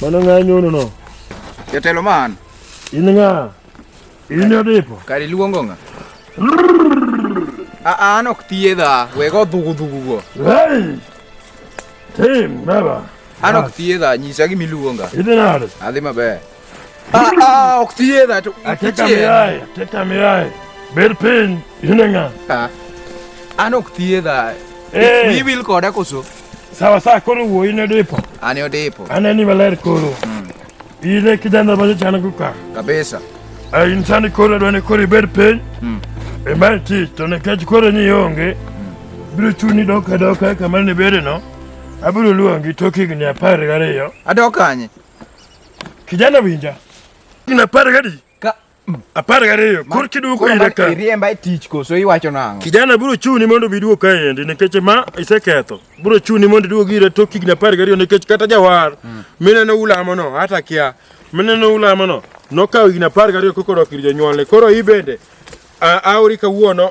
Mano ng'a nyono no? Jatelo man. In ng'a? In odipo. Kari luongo ng'a? Aa, an ok thiedha, wego dhugu dhugu go. Hey! Tim, baba. An ok thiedha, nyisa gima iluonga. Idhi nade? Adhi maber. Ah, ah, oxygen that. I take a mirai, take a mirai. Berpin, yunenga. Ah. An oxygen that. Eh. We will call that also. Sawa sawa koro wo ine depo. Ani odepo. Ani ni valer koro. Hmm. Ile kijana baje chana kuka. Kabisa. Ai eh, insani koro dwani kori berpin. Hmm. E mai ti to ne kaj koro ni yonge. Hmm. Biro chuni doka doka kamar ne bere no. Abiro luongi tokigni apar gariyo. Adok kanye? Kijana winja. Ina par gadi. Ka apar gariyo kor kiduoko ira ka. Iriemba e tich koso iwacho nang'o? Kijana biro chuni mondo biduo ka endi nikech ma iseketho. Biro chuni mondo iduog ira tok higni apar gariyo nikech kata jawar mm. mineno ulamo no hata kia mineno ulamo no nokawo higni apar gariyo kokoro ir jonyuolne. Koro i bende aori kawuono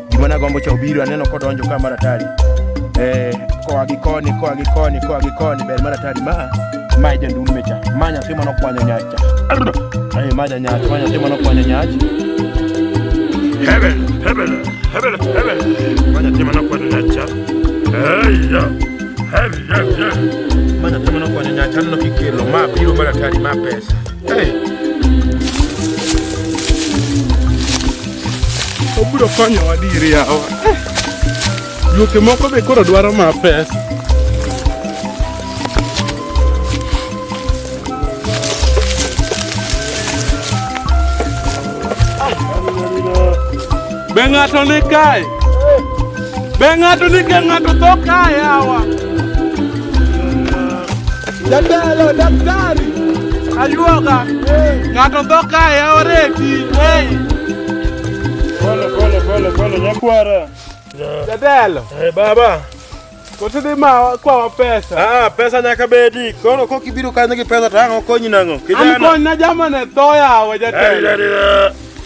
Gima nagombo cha obiro aneno kodonjo ka maratari. Eh, koa gi koni, koa gi koni, koa gi koni ber maratari ma. Ma jandume cha. Ma nyathi mano kwanyo nyach cha. Eh, ma janyach, ma nyathi mano kwanyo nyach. Hebel, hebel, hebel, hebel. Ma nyathi mano kwanyo nyach cha. Hey, yeah. Hey, yeah, yeah. Ma nyathi mano kwanyo nyach aneno kikelo ma biro maratari ma pesa. Hey. obiro konyowa dir yawa eh, juoke moko be koro dwaro ma pesa be ng'ato ni kae Be ng'ato ni ka ng'ato tho ka yawa. Jatelo daktari. Ayuoga. Ng'ato tho ka yawa reti. Pole pole pole pole nyakwara. Jatelo. Eh baba. Kote dhi ma kwawa pesa. Ah, pesa nyaka bedi. Koro kok ibiro kanyo gi pesa to ang' okonyi nang'o? Kijana. An kony na jamane tho yawa jatelo.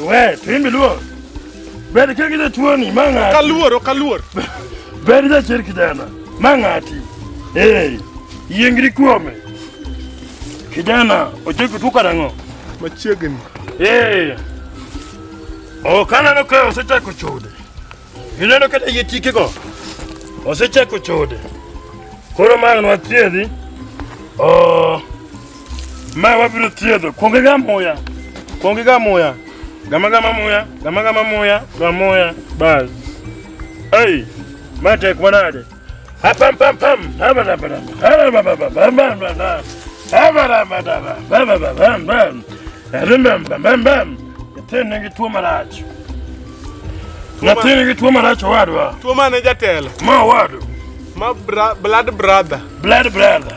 We, timbi luo. Ber ka gide tuoni ma ng'ati. Kaluor, ok aluor. Ber jachir kijana ma ng'ati. Ee, yiengri kuome. Kijana, ochoki tuo karang'o? Machiegni. Ee, ok aneno ka osechako chode. Ineno kata yie tikego osechako chode. Koro ma anwa thiedhi. Oh, ma wabiro thiedho. Kuonge ga muya. Kuonge ga muya. Gama gama muya, gama gama muya, gama muya. Bas. Hey, ma tek manade. Nyathini tuo marach. Nyathini tuo marach owadwa. Tuo mane jatelo? Ma owadwa. Ma blood brother. Blood brother.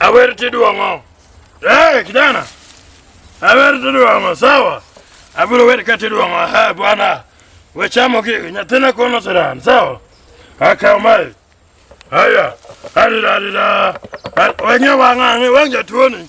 Awer tidwong'o. Eh, kijana. Awer tidwong'o, sawa? Abiro wer ka tidwong'o. Ha, bwana. We chamo gi nyathina kono siran, sawa? Akaw mai. Haya. Arira arira. Weng'e wang'ang'e, wang' jatuoni.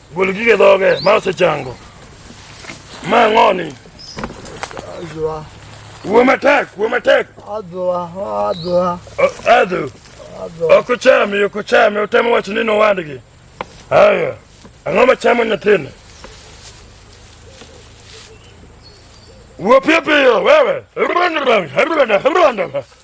Gol gige dhoge ma osechango. Ma ng'oni. Adwa. Wuo matek, wuo matek. Adwa, adwa. Adwa. Adwa. Ok ochami, ok ochami, otemo wacho ni nowadgi. Haya. Ang'o ma chamo nyathini? Wuo piyo piyo wewe.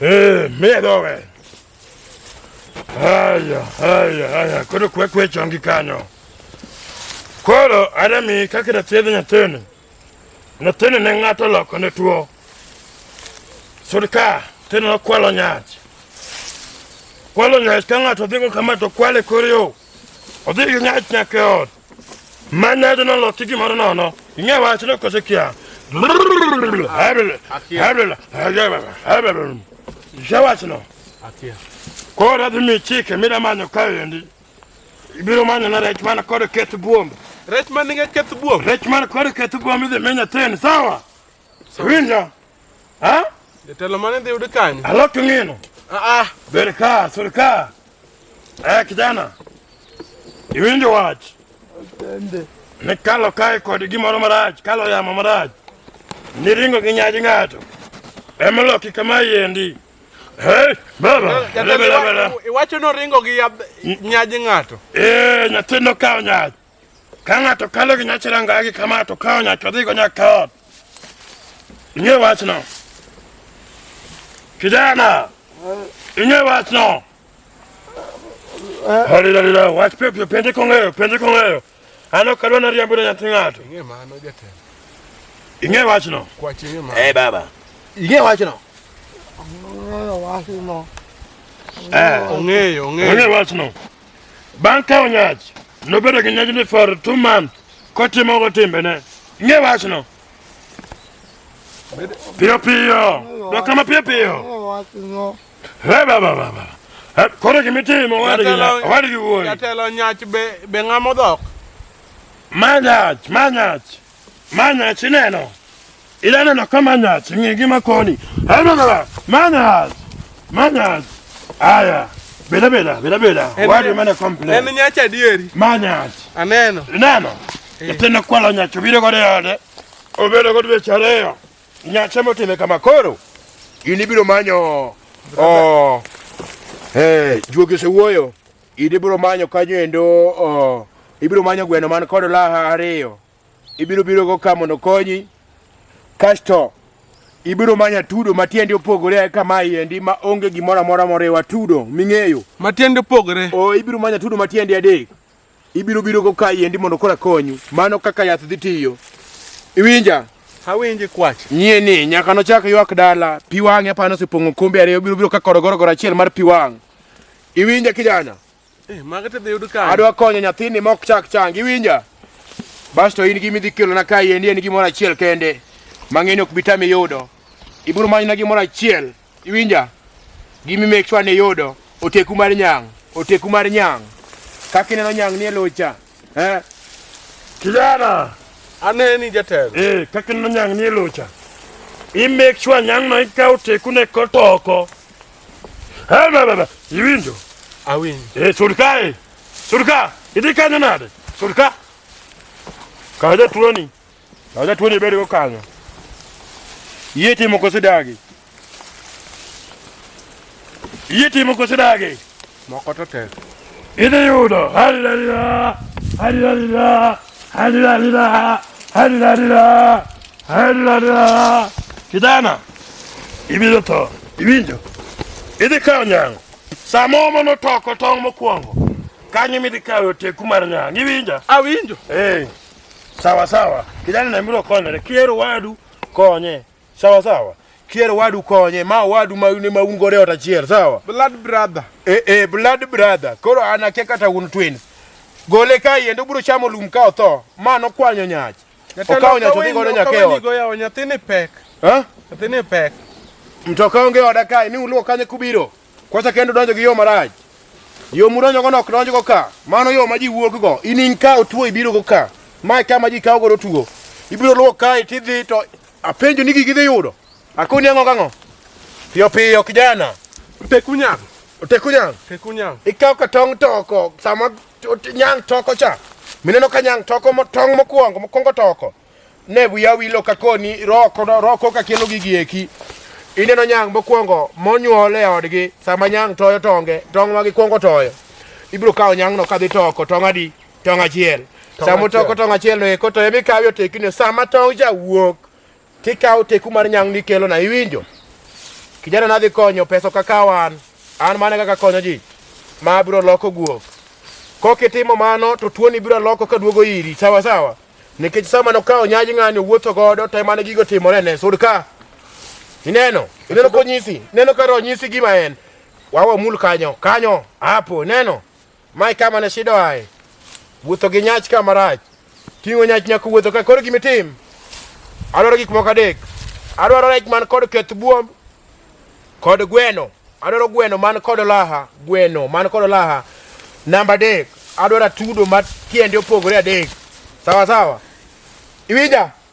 Eh, medo we. Haya, haya, haya. Koro kwe kwe chongi kanyo. Koro anami kaka da thiedho nyathini. Nyathini ne ng'ato loko ne tuo. Sirka, tino nokwalo nyach. Kwalo nyach ka ng'ato dhigo kama to kwale kor yo. Odhi gi nyach nyaka e ot. Mane do no lo tigi moro no no. Inge wa chilo ko sekia. Habele. Habele. Habele. Jawa chino. Atia. Ko ra mi chike mi da manyo ka yendi. Ibiro manyo na rech mana kod ket buombe. Rech man nige ket buombe. Rech man kod ket buombe idhi menya ten sawa. Siwinja. Ha? Jatelo mane dhi yudo kanyo? Alot ng'ino. Ah ah. Ber ka, sur ka. Eh, kijana. Iwinjo wach. Atende. Ne kalo kae kod gimoro marach, kalo yamo marach. Niringo gi nyaji ng'ato. Emoloki kama yendi. Hey, baba. Iwacho noringo gi nyaji ng'ato. Eh, nyathi nokawo nyaji. Ka ng'ato kalo gi nyache rangagi kama to kawo nyache odhigo nyaka ot. Ing'e wachno? Kijana, ing'e wachno? Halilala, wach piyo piyo, penje kong'eyo, penje kong'eyo. An ok adwa nariambo ne nyathi ng'ato. Ing'e mano jatelo. Ing'e wachno? Kwache ing'e mano. Eh baba. Ing'e wachno? Ong'eyo wachno. Eh. Ong'eyo, ong'eyo. Ong'e wachno. Bang' kawo nyach, nobedo gi nyajni for two months kotimogo timbene. Ing'e wachno? Piyo piyo, dok kama piyo piyo. He baba baba. Koro gima itimo owadgi wuoyi. Jatelo nyach be be ng'ama odhok. Ma nyach, ma nyach. Ma nyach ineno. Ilana na kama nyaz, nyingi makoni. Hema baba, manaz. Manaz. Aya. Bela bela, bela bela. Wadi mana komple. Emi nyacha dieri. Manaz. Aneno. Neno. Eh. Tena kwa la nyacho bile kwa deode. Obele kwa tuwe chareo. Nyacha mo teme kama koro. Ini bilo manyo. Oh. Hey, eh, juogi se wuoyo. Ini bilo manyo kanyo endo. Oh. Ibilo manyo gweno man kodo laha ariyo. Ibiro birogo ka mondo konyi, kasto ibiro manya tudo matiende opogore ae kama iendi ma onge gimoro amora moriwa tudo ming'eyo matiende opogore o ibiro manya tudo matiende adek ibiro biro go ka iendi mondo kora konyu mano kaka yath dhi tiyo iwinja awinji kwach nyie ni nyaka nochak ywak dala pi wang'e apano osepong'o kombe ariyo biro biro ka korogorogoro achiel mar pi wang' iwinja kijana Eh, mago to dhi yud kanye? Adwa konyo nyathini mok chak chang, iwinja? Bas to in gi midhi kelo na kae endi en gimoro achiel kende. Mang'eni ok bitami yudo. Ibiro manyna gimoro achiel, iwinja? Gimi make sure ni yudo oteku mar nyang, oteku mar nyang. Kaka ineno nyang ni e locha. Eh? Kijana, Aneni jatelo. eh, kaka ineno nyang ni e locha. I make sure nyang no ikaw tekune kotoko. Hebebebe. Iwinjo. Awinjo. Eh, surka eh. Surka. Idhi kanyo nade? Surka. Kaw jatuoni. Kaw jatuoni ibed go kanyo. Yie timo kosidagi. Yie timo kosidagi. Moko to tek. Idhi yudo. Halila. Halila. Halila. Halila. Halila. Kijana. Ibiro to. Iwinjo? Idhi kawo nyango. Sama omo notoko tong' mokwongo. Kanyo midhi kawo oteku mar nyango. Iwinja? Awinjo. Eh. Sawa sawa. Kijana na miro konyore. Kiero wadu konye. Sawa sawa. Kier wadu konye, ma wadu ma ne ma un gore ota chier, sawa? Blood brother. Eh eh, blood brother. Koro ana ke kata un twins. Gole ka yendo bro chamo lum ka otho, ma no kwanyo nyach. Okawo nyach odhi gore nyakeo. Ni goya o nyathini pek. Ha? Nyathini pek. Mtoka onge oda kai ni uluo kanye kubiro. Kwacha kendo donjo gi yo maraj. Yo muronyo go nok donjo go ka. Mano yo ma ji wuok go. Inin ka otuo ibiro go ka. Ma ka ma ji kawo go otuo. Ibiro luo kai tidhi to Apenjo ni gigi dhi yudo. Akoni ang'o gang'o? Piyo piyo kijana. Teku nyang. Teku nyang. Teku nyang. Ikaw ka tong toko sama nyang toko cha. Mineno ka nyang toko mo tong mokwongo mokwongo toko. Ne wiya wilo ka koni roko roko ka kelo gigi eki. Ineno nyang mokwongo monyuol e odgi sama nyang toyo tonge tong ma gikwongo toyo. Ibiro kawo nyang'no ka dhi toko tong adi? tong' achiel sama utoko tong' achiel no eko to emi kawi oteki no sama tong' ja wuok tikawo teku mar nyang' nikelo na iwinjo kijana nadhi konyo pesa kakawo an an mane kaka konyo ji ma abiro loko guok kokitimo mano to tuoni biro loko ka duogo iri sawa sawa nikech sama nokawo nyaji ng'ani owuotho godo to emane gigo timore ne sud ka ineno ineno konyisi ineno ka ronyisi gima en wawa mul kanyo kanyo hapo ineno Mae kama ne shida wae. Wuotho gi nyach ka marach. Ting'o nyach nyaka wuotho ka koro gimitim. Adwaro gik moko adek. Adwaro rech man kod keth buom kod gweno. Adwaro gweno man kod laha, gweno man kod laha. Namba adek, adwaro atudo ma tiende opogore adek. Sawa sawa. Iwinja?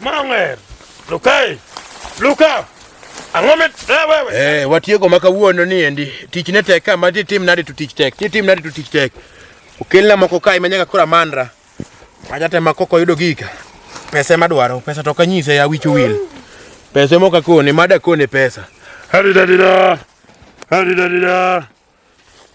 Mang'er. Lukai. Luka. Ang'o mit eh, wewe? Eh, watieko maka wuono ni endi. Tich ne tek kama ti tim nadi to tich tek. Ti tim nadi to tich tek. Okelna moko kai manyaka kura manra. Aja tema koko yudo gika. Pesa ma dwaro, pesa to kanyise ya wichu wil. Pesa mo kakone, mada kone pesa. Hari dadira. Hari dadira.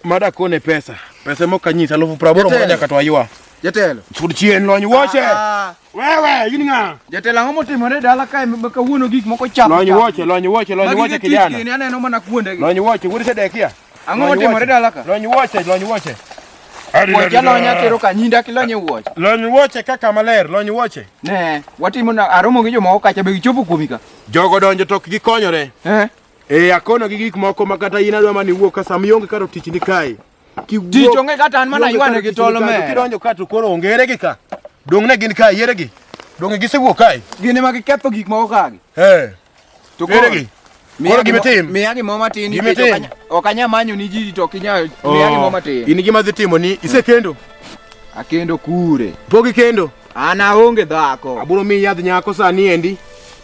Mada kone pesa. Pesa mo kanyisa elfu praboro Jatelo. moja katwaywa. Jatelo. Sud chien lony woche. Ah, Wewe in ng'a? Jatelo ang'o motimore e dala kae ma kawuono gik moko chap. Lony woche, lony woche, lony woche kijana. Magi aneno mana kuonde gi. Lony woche, wuod Sedekia. Ang'o Lony motimore woche. dala ka? Lony woche, lony woche. Wuoche alony atero ka nyinda ak ilony e wuoche. Lony woche kaka maler, lony woche. Ne, watimo na aromo gi jomoko kacha be gichopo kuomi ka. Jogo donjo tok gikonyore. Eh, Eh, akono gi gik moko ma kata in adwa mani wuok ka sama ionge karo tich ni kae. Kiwuok. Tich onge kata an mana ywane gi tolo me. Kidonjo ka to koro onge ere gi ka. Dong ne gin kae ere gi. Dong gisewuok kae. Gin ema giketho gik moko ka gi. Eh. To koro gi. Koro gima tim. Miya gimo matin nikech ok anya manyo ni ji to kinya oh, miya gimo matin. In gima dhi timo ni isekendo. Akendo kure. Pogi kendo. Ana onge dhako. Aburo mi yadh nyako sani endi.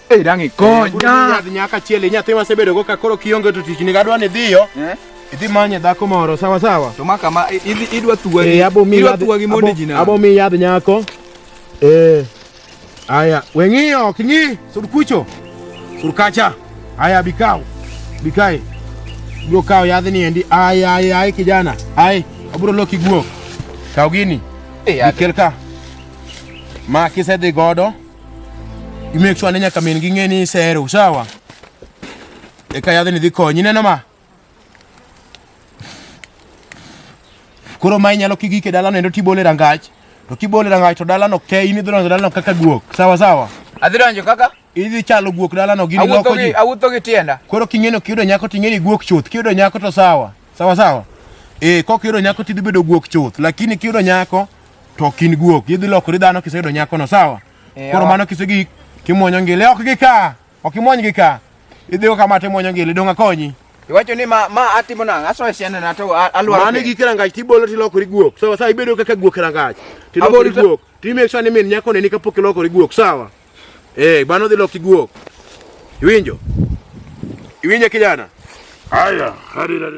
Ei, rangi konya. Yath nyaka chiele nyathi ma sebedo go ka koro kionge to tich ni gadwa ni dhiyo. Eh? Idhi manye dhako moro sawa sawa. To maka ma idhi idwa thuwa. Eh, abo mi idwa thuwa gi mondi jina. Abo mi yadh nyako. Eh. Aya, weng'iyo ok ng'i sur kucho. Sur kacha. Aya bikao. Bikae. Bro kao yadh ni endi. Aya aya ai kijana. Ai, aburo loki guo. Kao gini. Eh, Bikel ka. Ma kisedhi godo. You make sure nenya kamin gi ng'e ni sero, sawa? Eka yadhe ni dhi konyi, neno ma? Koro ma inyalo kigike dalano endo tibole rangach. To kibole rangach to dalano ke in idhi donjo dalano kaka guok. Sawa sawa. Adhi donjo kaka? Idhi chalo guok dalano gini loko ji. Awuotho gi tienda. Koro king'eno kiyudo nyako ting'eni guok chuth. Kiyudo nyako to sawa. Sawa sawa. Eh, kok kiyudo nyako tidhi bedo guok chuth. Lakini kiyudo nyako To ok in guok, idhi lokori dhano kiseyudo nyakono, sawa? Eh, Koro ok. mano kisegi kimwonyo ngili, ok gi ka, ok imwony gi ka. Idhigo kama to imwonyo ngili, dong' akonyi. Iwacho ni ma ma atimo nang'o? Asoyo siandana to a- alwaro. Mano piny. gi kirangach tibolo tilokori guok, sawa? Sawa, ibedo kaka guok kirangach, tilokori Abolo ta- guok. Ti make sure ni min nyako neni kapok ilokori guok, sawa? Eh, mano dhi loki guok. Iwinjo? Iwinjo kijana? Haya, hadi hadi.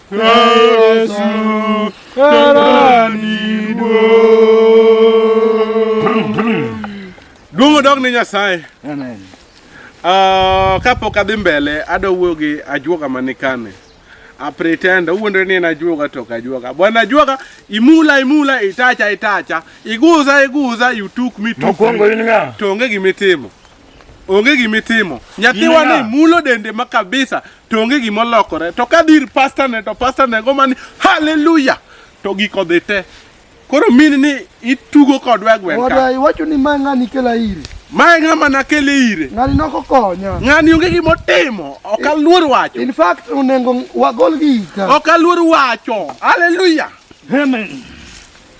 Duong' odog ne Nyasaye. Amen. Uh, kapok adhi mbele adwa wuoyo gi ajuoga manikane apretenda uwuondore ni en ajuoga to ok ajuoga bwana ajuoga imula imula itacha itacha iguza iguza you took me took Mokwongo in ng'a? to onge gima itimo onge gima itimo nyathiwa ni mulo dende ma kabisa to onge gima olokore to ka dhir pasta ne to pasta ne go mani haleluya to giko dhi te koro mini ni itugo kodwa e gweng' ka iwacho ni mae ng'ani kela iri mae ng'ama nakele ire ng'ani nokokonya ng'ani onge gima otimo ok aluor wacho in fact onengo wagol gi ita ok aluor wacho haleluya amen